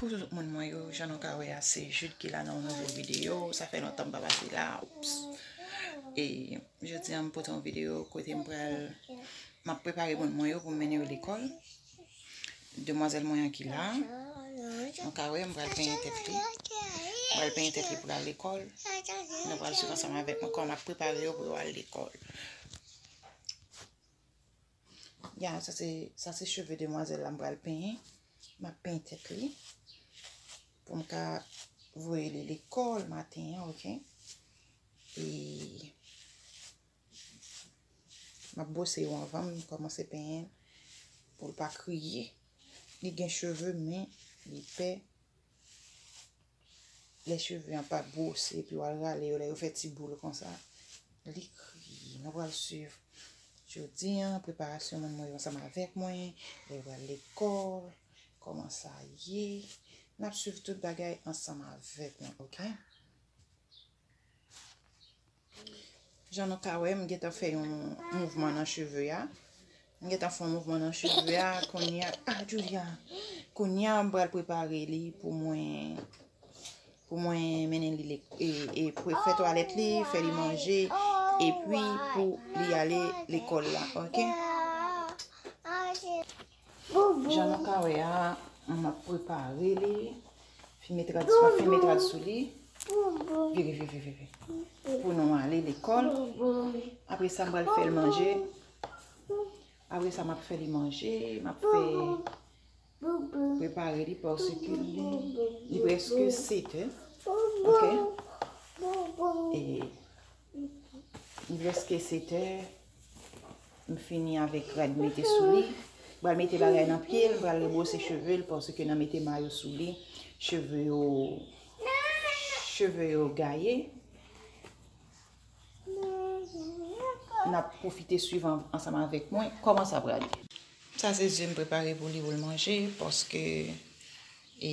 Coucou tout moun mwen yo, jan nou ka wè a se Jude ki la nan yon nouvo video, sa fè lontan m pa pase la, oups. E jodi an m pote yon video kote m pral m ap prepare moun mwen yo pou m mennen yo lekòl. Demwazèl mwen an ki la, nou ka wè m pral penyen tèt li, m pral penyen tèt li pou l al lekòl, nou pral swiv ansanm avèk mwen kòman m ap prepare yo pou yo al lekòl. Ya, sa se, sa se cheve demwazèl la m pral penyen. M ap penyen tèt li pou m ka voye li lekòl maten an, ok. E m ap bwose yo anvan m kòmanse penyen l pou l pa kriye. Li gen cheve men li pè Lè cheve an pa bwose epi wal rale yo lè yo fè ti boul konsa. Li kriye. Nou pral suiv jodi an preparasyon moun mwen yo ansanm avèk mwen. Lè yo pral lekòl. Kòman sa ye. Nap suiv tout bagay ansanm avèk nou ok. Jan nou ka wè, m gentan fè yon mouvman nan cheve a. M gentan fè yon mouvman nan cheve a. Konya, a Julia! Konya, m pral prepare li pou mwen, pou mwen mennen li lek, e, e pou fè twalèt li, fè li manje, epi pou li ale lekòl la, ok? Jan nou ka wè a, m ap prepare li. Fim etrad sou, fim etrad sou li. Vire, vire, vire, vire. Pou nou ale lekòl. Apre sa m pral fè l manje. Apre sa m ap fè li manje. M ap fè prepare li paske li preske sete. Ok. E. M preske sete. M fini avèk rad mete sou li. M pral mete bagay nan pye l. M pral rebwose cheve l paske nan mete mayo sou li. Cheve yo. Cheve yo gaye. N ap pwofite swiv ansanm avèk mwen. Kòman sa pral ye? Sa se ze m prepare pou li pou l manje paske e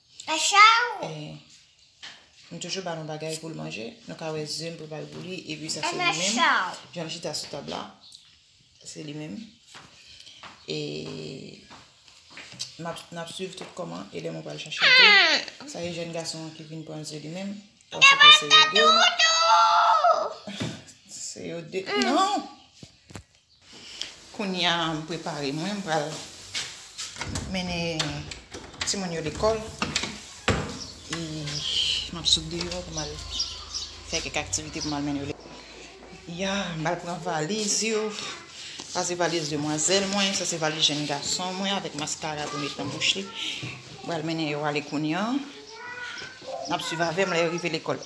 M toujou ba nou bagay pou l manje. Nou ka wè ze m prepare pou li. E pi sa se li menm. Jan l chita sou tab la. Se li menm. E m ap swiv tout kòman. E lè mwen pral chache l tou. Sa e jèn gason an ki vin pran ze li menm. Paske se yo de. Se yo de. Non! Kounya m prepare mwen, m pral mennen timoun yo lekòl e m ap sot deyò pou m al fè kèk aktivite pou m al mennen yo lekòl. Ya, m al pran valiz yo. Sa se valiz demwazèl mwen, sa se valiz jenn gason mwen avèk maskara pou met nan bouch li. M pral mennen yo ale kounya. N ap swiv avè m lè yo rive lekòl.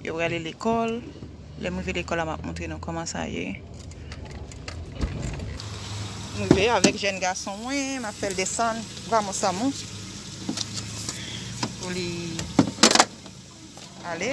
Yo prale lekòl. Lè m rive lekòl la, m ap montre nou kòman sa ye. M rive avèk jèn gason mwen, m ap fè l desann Vamos Amou pou li ale.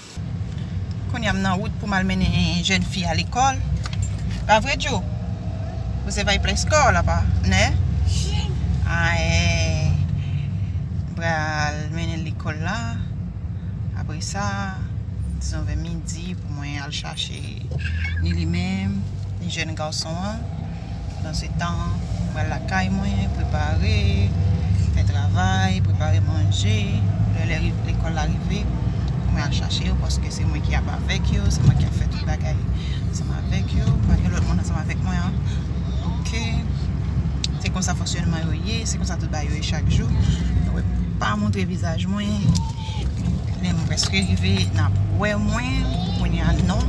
Kounya m nan wout pou m al mennen jèn fi a lekòl. Pa vre Djo? Ou se vay plè skò la pa nè? Aèè m pral mennen l lekòl la apre sa dizon vè midi pou mwen al chache ni li menm ni jèn gason an. Pandan se tan mwen al lakay mwen prepare, fè travay, prepare manje pou lè lè lekòl la rive pou mwen al chache yo paske se mwen ki ap avèk yo, se mwen ki ap fè tout bagay ansanm avèk yo, pa gen lòt moun ansanm avèk mwen an ok. Se konsa fonksyònman yo ye, se konsa tout bagay yo ye chak jou, nou wè m pa montre vizaj mwen. Lèm preske rive nap wè mwen pou kounya non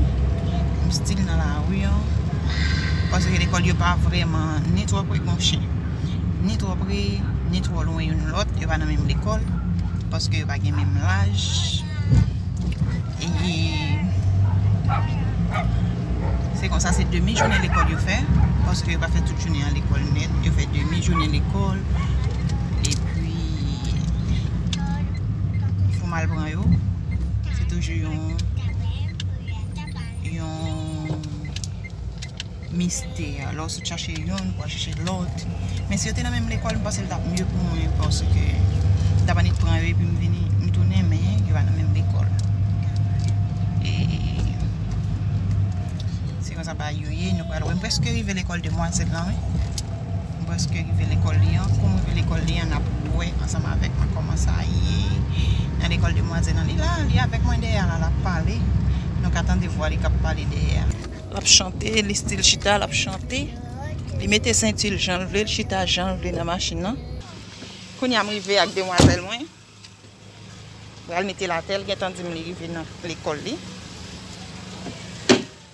m stil nan lari an paske lekòl yo pa vrèman ni twò pre monchè ni twò pre ni twò lwen youn lòt yo pa nan menm lekòl paske yo pa gen menm laj epi se konsa se demi jounen lekòl yo fè paske yo pa fè tout jounen an lekòl nèt yo fè demi jounen lekòl epi Pou mal pran yo Se toujou yon Yon Mistè Lò sot chache yon pou al chache lòt Men si yo te nan menm lekòl m panse l tap mye pou mwen paske m tap annik pran yo epi m vini m tounen men yo pa nan menm lekòl e Se konsa bagay yo ye nou pral wè m preske rive lekòl demwazèl lan wi. M prèske rive lekòl li an. Kou m rive lekòl li an, n ap wè ansanm avèk mwen kòman sa ye nan lekòl demwazèl lan. Li la, li avèk mwen dèyè a la, l ap pale. Nou ka tande vwa li k ap pale dèyè a. L ap chante, li stil chita, l ap chante. Li mete senti l jan l vle, li chita jan l vle nan machin lan. Kounye a m rive ak demwazèl mwen. M pral mete l atè, l gentan di m li rive nan lekòl li.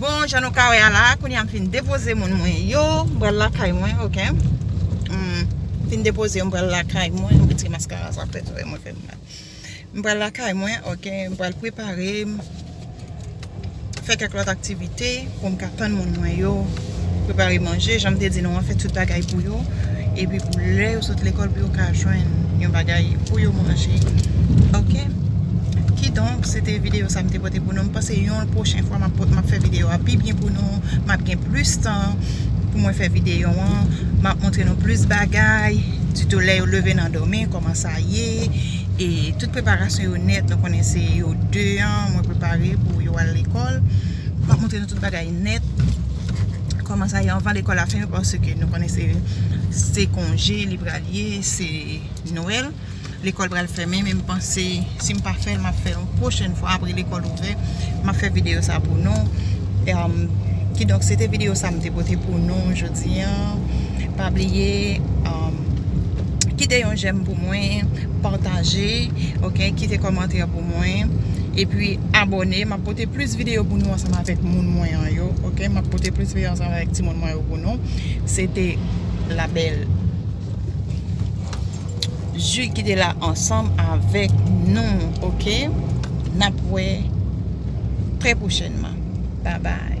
Bon jan nou ka wè a la kounye a m fin depoze moun mwen yo m pral lakay mwen ok m fin depoze yo m pral lakay mwen m retire maskara sa pèt zòrèy mwen fè m mal m pral lakay mwen ok m pral prepare m fè kèk lòt aktivite pou m ka tann moun mwen yo. Prepare manje, jan m te di nou an, fè tout bagay pou yo. Epi pou lè yo sot lekòl pou yo ka jwenn yon bagay pou yo manje. Ok. Kidonk, se te videyo sa m te pote pou nou. M panse yon pwochen fwa m ap pot, m ap fè videyo a pi byen pou nou. M ap gen plis tan pou mwen fè videyo an. M ap montre nou plis bagay. Sitou lè yo leve nan dòmi, kòman sa ye. E tout preparasyon yo nèt. Nou konnen se yo 2 an mwen prepare pou yo al lekòl. M ap montre nou tout bagay. net Koman sa ye anvan lekòl la fèmen paske nou konnen se se konje li pral ye se nwèl lekòl pral fèmen men m panse si m pa fè l m ap fè l yon pwochèn fwa apre lekòl ouvè m ap fè videyo sa pou nou kidonk se te videyo sa m te pote pou nou jodi an pa bliye kite yon jèm pou mwen pataje ok kite kòmantè pou mwen mwen epi abòne map pote plis video pou nou ansanm avèk moun mwen an yo ok map pote plis video ansanm avèk ti moun mwen yo pou nou se te la bèl Ju ki te la ansanm avèk nou ok nap wè trè pwochènman babay.